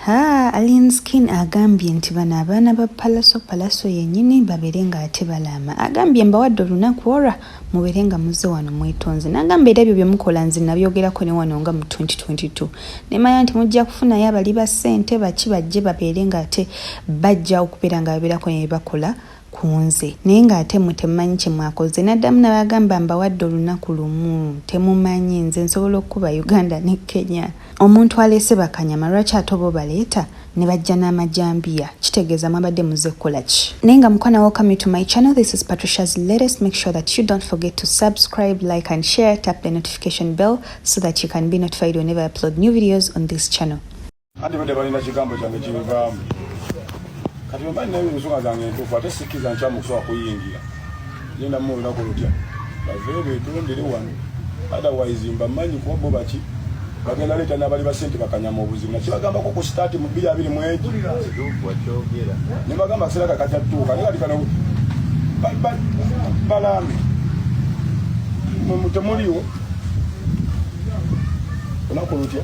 Haa Alien Skin agambye nti bano abaana ba Palaso Palaso yenyini babeere nga ate balaama agambye mbawadde olunaku olwa mubeere nga muzze wano mwetonze nagamba era ebyo byemukola nze nabyogerako ne wano nga mu 2022 nemanya nti mujja kufunayo abali ba ssente baki bajje babeere nga ate bajja okubeera nga babeerako nebebakola kunze naye nga ate mwe temumanyi kyemwakoze naddamu nabagamba mbawadde olunaku lumu temumanyi nze nsobola okukuba uganda ne kenya omuntu aleese bakanyama lwaki ate oba obaleeta ne bajja n'amajambiya kitegeeza mwabadde muze kukola ki naye nga mukwana welcome to my channel this is patricia's latest make sure that you don't forget to subscribe like and share tap the notification bell so that you can be notified whenever i upload new videos on this channel anti badde balina kigambo kyange kibivaamu kati bemba nina ensonga zange entuufu ate sikkiriza nkyamu okusobola kuyingira genda mu olunaku lutya bave betondere wano otherwise mbamanyi kuba bo baki bagenda leeta n'abali basente bakanyama obuzibu nakibagambako ku sitaati mu bbiri abiri mwegi ne bagamba akaseera kakatatuuka naye kati kano balambe temuliwo olunaku lutya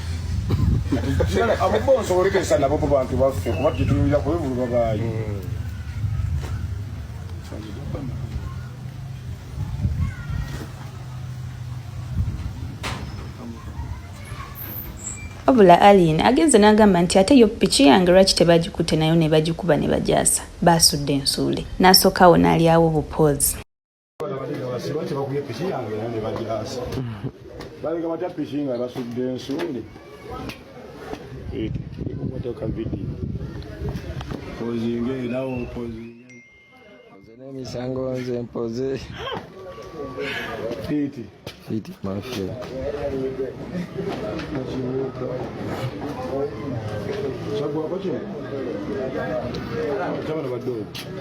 abo bo nsobola okesa nabo bo bantu baffe kuba tetuyinza kwevuluba baayo wabula alien agenze n'agamba nti ate yo piki yange lwaki tebagikutte nayo ne bagikuba ne bagyasa baasudde ensuule n'asooka awo n'alyawo obupoozi balinga batya piki nga basudde ensuuli ikumotoka vidiyo pozinge nawe opozinge nze n'emisango nze mpoze Pete. Fiti mafia.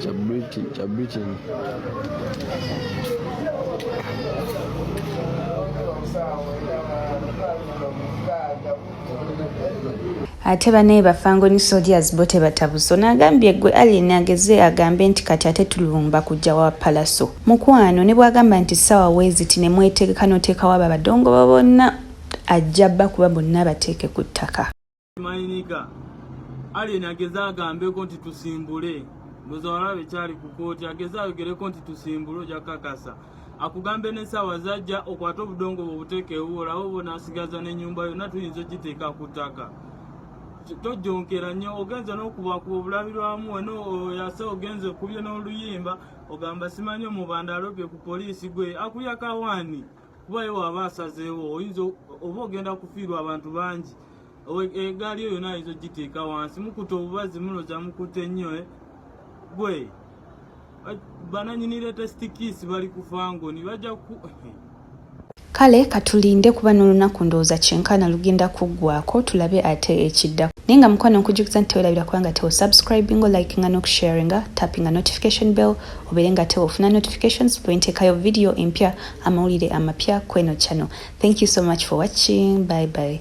Cha British, cha Britain. ate banaye bafango ni soldiers bo tebatabuso nagambye gwe alien ageze agambe nti kati ate tulumba kujja wa palaso Mukwano ne bwagamba nti sawa weziti ne mwetegeka notekawo abo abadongo bo bonna ajja bakuba bonna abateeke ku ttaka. Mayinika Alien ageze agambeko nti tusimbule ndoza walabe kyali ku kooti ageze ayogereko nti tusimbule oja kakasa akugambe ne sawa zajja okwata obudongo bwo butekewo olawo bona asigaza ne nyumba yona tuyinza ogiteeka ku ttaka tojjonkera nnyo ogenze n'okubakuba obulabirwamu eno oyase ogenze kubye n'oluyimba ogamba simanyi omubanda alobye ku poliisi gwe akuyakawaani kuba ye waaba asazeewo oyinza oba ogenda kufiirwa abantu bangi egaali eyo yona ayinza ogiteeka wansi mukuta obubazi muloza mukute nnyo eh? gwe bananyini latest kiss bali kufangoni bajja ku Kale katulinde kuba nolunaku ndowooza kyenkana lugenda kuggwako tulabe ate ekiddako naye nga mukwano nkujukiza nti tewelabira kuba nga tewo subscribingo likinga nokusharinga tappinga notification bell obeere nga tewo ofuna notifications bwentekayo video empya amawulire amapya kweno channel thank you so much for watching bye bye